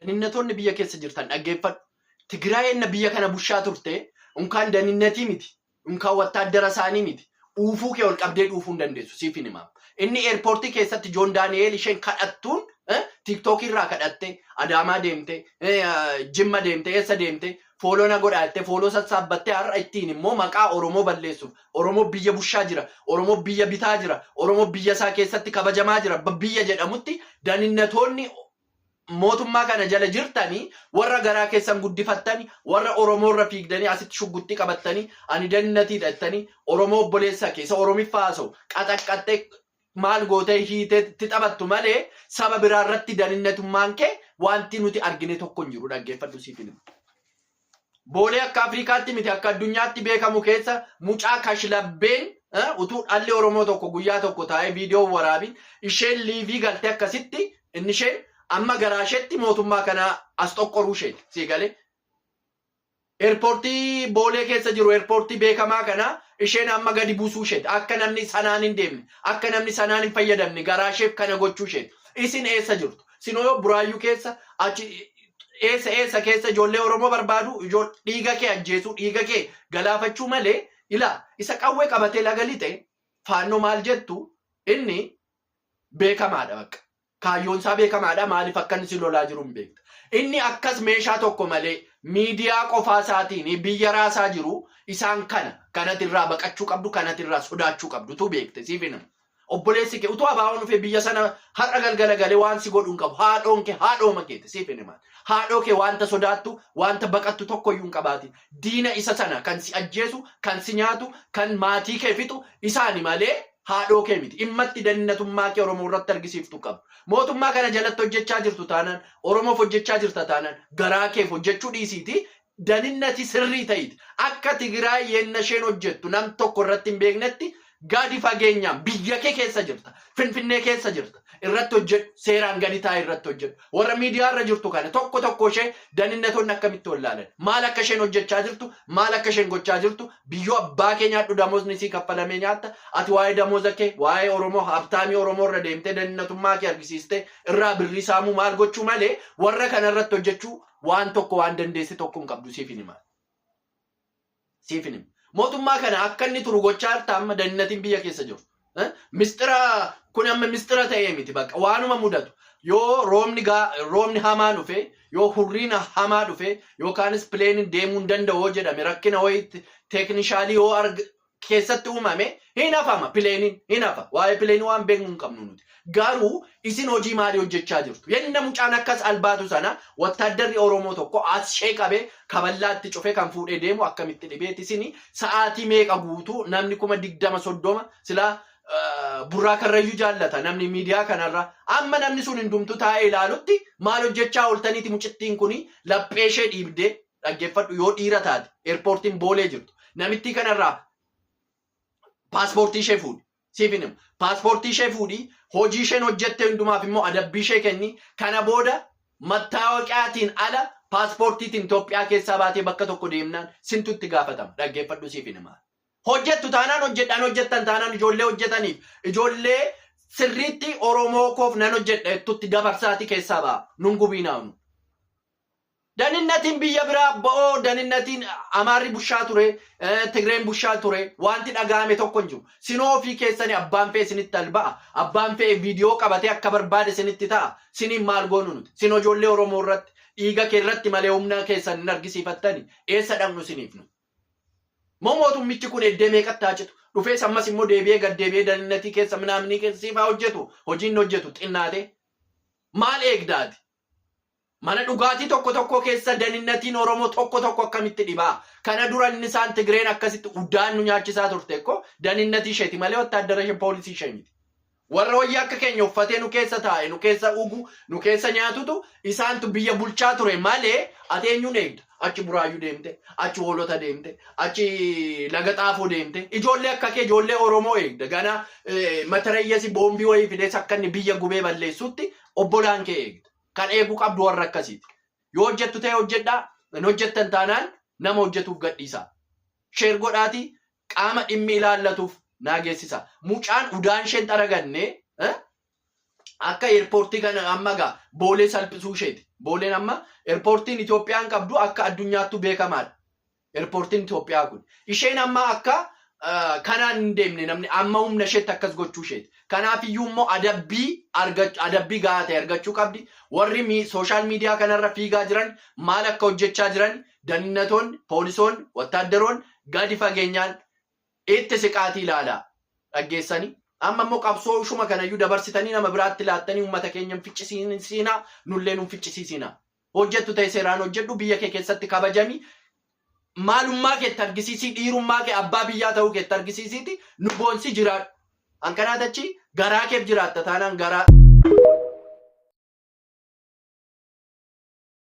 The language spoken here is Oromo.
Daninnatoonni biyya keessa jirtan dhaggeeffadhu. Tigraay enna biyya kana bushaa turte unkaan daninnatii miti, unkaan wattaaddara isaanii miti. Uufuu kee ol qabdee dhuufuu hin dandeessu siif hin himaam. Inni eerpoortii keessatti Joon Daani'eel isheen kadhattuun eh, tiiktookii irraa kadhattee Adaamaa deemte, eh, Jimma deemte, eessa deemte fooloo na godhaa jettee fooloo sassaabbattee har'a ittiin immoo maqaa Oromoo balleessuuf. Oromoo biyya bushaa jira, Oromoo biyya bitaa jira, Oromoo biyya isaa keessatti kabajamaa jira, ba- biyya jedhamutti daninnatoonni mootummaa kana jala jirtani warra garaa keessan guddifattani warra Oromoo irra fiigdanii asitti shugguxxii qabattanii ani dannatiidha jettanii Oromoo obboleessa kee isa Oromiffaa haasa'u qaxaqqaxxee maal gootee hiitee itti taphattu malee saba biraa irratti daninnatummaan kee wanti nuti argine tokko hin jiru dhaggeeffadhu siifin. Boolee akka Afrikaatti miti akka addunyaatti beekamu keessa mucaa kashlabbeen utuu dhalli Oromoo tokko guyyaa tokko taa'ee viidiyoo waraabi isheen liivii galte akkasitti inni isheen amma garaa isheetti mootummaa kana as xoqqoruu isheeti sii galee. Eerpoortii boolee keessa jiru eerpoortii beekamaa kana isheen amma gadi buusuu isheeti akka namni sanaan hin deemne akka namni sanaan hin fayyadamne garaa isheef kana gochuu isheeti isin eessa jirtu sinoo buraayyuu keessa achi eessa eessa keessa ijoollee Oromoo barbaadu ijool- dhiiga kee ajjeesuu dhiiga kee galaafachuu malee ilaa isa qawwee qabatee laga lixe faannoo maal jettu inni beekamaadha bakka kaayyoon isaa beekamaadha maaliif akka inni si lolaa jiru hin beekta inni akkas meeshaa tokko malee miidiyaa qofaa isaatiin biyya raasaa jiru isaan kana kanati irraa baqachuu qabdu kanati irraa sodaachuu qabdu tu beekte siif hin himu. Obboleessi kee utuu abaawoon dhufee biyya sana har'a galgala galee waan si godhu hin qabu. Haadhoon kee haadhooma keeti siif hin himaan. Haadhoo kee wanta sodaattu, wanta baqattu tokko iyyuu hin qabaatin. Diina isa sana kan si ajjeesu, kan si nyaatu, kan maatii kee fixu isaani malee haadhoo kee miti. Immatti dannatummaa kee Oromoo irratti argisiiftu qabdu. Mootummaa kana jalatti hojjechaa jirtu taanaan, Oromoof hojjechaa jirta taanaan garaa keef hojjechuu dhiisiitii daninnati sirrii ta'iti akka Tigiraay yenna isheen hojjettu nam tokko irratti hin beeknetti gadi fageenyaan biyya kee keessa jirta Finfinnee keessa jirta irratti hojjedhu seeraan gadi taa'e irratti hojjedhu warra miidiyaa irra jirtu kana tokko tokko ishee daninnatoonni akkamitti wallaalan maal akka isheen hojjechaa jirtu maal akka isheen gochaa jirtu biyyoo abbaa kee nyaadhu damoosni isii kaffalamee nyaatta ati waa'ee damooza kee waa'ee Oromoo habtaamii Oromoo irra deemtee daninnatummaa kee argisiistee irraa birrii saamuu maal gochuu malee warra kana irratti hojjechuu Waan tokko waan dandeesse tokko hin qabdu siif hin hima. Siif hin hima. Mootummaa kana akka inni turu gochaa jirta amma dannatiin biyya keessa jiru. Eh? Mistira kun amma mistira ta'ee miti bakka waanuma mudatu. Yoo roobni gaa roobni hamaa dhufe yoo hurriin hamaa dhufe yookaanis pileeniin deemuu hin danda'u yoo jedhame rakkina wayiitti teeknishaalii yoo arg keessatti uumame hin hafama pileeniin hin hafa waa'ee pileenii waan beeknu hin qabnu nuti garuu isin hojii maalii hojjechaa jirtu yenna mucaan akkas albaatu sana wattaaddarri oromoo tokko as shee qabee kaballaatti cufee kan fuudhee deemu akkamitti dhibeeti isin sa'aatii meeqa guutuu namni kuma digdama soddoma silaa burraa karrayyuu jaallata namni miidiyaa kanarra amma namni sun hundumtu taa'ee ilaalutti maal hojjechaa ooltaniiti mucittiin kun laphee ishee dhiibdee dhaggeffadhu yoo dhiira taate eerpoortiin boolee jirtu namittii kanarraa paaspoortii ishee fuudhi siif hin himu paaspoortii ishee fuudhi hojii isheen hojjette hundumaaf immoo adabbii ishee kenni kana booda mattaawaqaatiin ala paaspoortiitiin Itoophiyaa keessaa baatee bakka tokko deemnaan sintu itti gaafatama dhaggeeffadhu siif hin himaa hojjettu taanaan hojjedhaan hojjettan taanaan ijoollee hojjetaniif ijoollee sirriitti Oromoo koof nan hojjedha jettutti dabarsaatii keessaa ba'a nun gubiinaawnu. Daninnatiin biyya biraa bo'oo daninnatiin Amaarri bushaa ture, Tigreen bushaa ture, wanti dhaga'ame tokko hin jiru. Sinoo ofii keessani abbaan fe'e sinitti al ba'a, abbaan fe'e viidiyoo qabatee akka barbaade sinitti ta'a, siniin maal goonu nuti? Sin ijoollee Oromoo irratti, dhiiga kee irratti malee humna keessan hin argisiifattani, eessa dhaqnu siniif nu? Moo mootummichi kun eddee meeqatti haa citu? Dhufees ammas immoo deebi'ee gad deebi'ee daninnatii keessa minaaminii keessa siif haa hojjetu, hojiin hojjetu xinnaatee? Maal eegda ati? Mana dhugaatii tokko tokkoo keessa daninnatiin Oromoo tokko tokko akkamitti dhibaa? Kana dura inni isaan Tigreen akkasitti udaan nu nyaachisaa turte ekko daninnatii isheeti malee wattaaddara ishee poolisii ishee miti. Warra wayya akka keenya uffatee nu keessa taa'e, nu keessa ugu, nu keessa nyaatutu isaantu biyya bulchaa ture malee ati eenyuun eegda? Achi Buraayyuu deemte, achi Hoolota deemte, achi Laga Xaafoo deemte. Ijoollee akka kee ijoollee Oromoo eegda. Ganaa eh, matarayyasi boombii wayii fidees akka inni biyya gubee balleessutti obbolaan kee eegda. Kan eeguu qabdu warra akkasiiti. Yoo hojjettu ta'e hojjedhaa, hin hojjettan taanaan nama hojjetuuf gadhiisaa. Sheer godhaatii qaama dhimmi ilaallatuuf naa geessisa. Mucaan udaan isheen xaraganne eh, akka eerpoortii kana amma egaa boolee salphisuu isheeti. Booleen amma eerpoortiin Itoophiyaan qabdu akka addunyaattuu beekamaadha. Erpoortiin Itoophiyaa kun. Isheen amma akka kanaan hin deemne namni amma humna isheetti akkas gochuu isheeti. Kanaaf iyyuu immoo adabbii adabbii gahaa ta'e argachuu qabdi. Warri sooshaal miidiyaa kanarra fiigaa jiran maal akka hojjechaa jiran dannatoonni, poolisoonni, wattaaddaroonni gadi fageenyaan itti siqaatii ilaalaa dhaggeessanii. Amma immoo qabsoo ishuma kanayyuu dabarsitanii nama biraatti laattanii uummata keenya hin ficcisiisinaa nullee nu hin ficcisiisinaa. hojjettu ta'e seeraan hojjedhu biyya kee keessatti kabajami maalummaa kee itti argisiisii dhiirummaa kee abbaa biyyaa ta'uu kee itti argisiisiiti nu boonsi jiraadhu an kanaa tachi garaa keef jiraatta taanaan garaa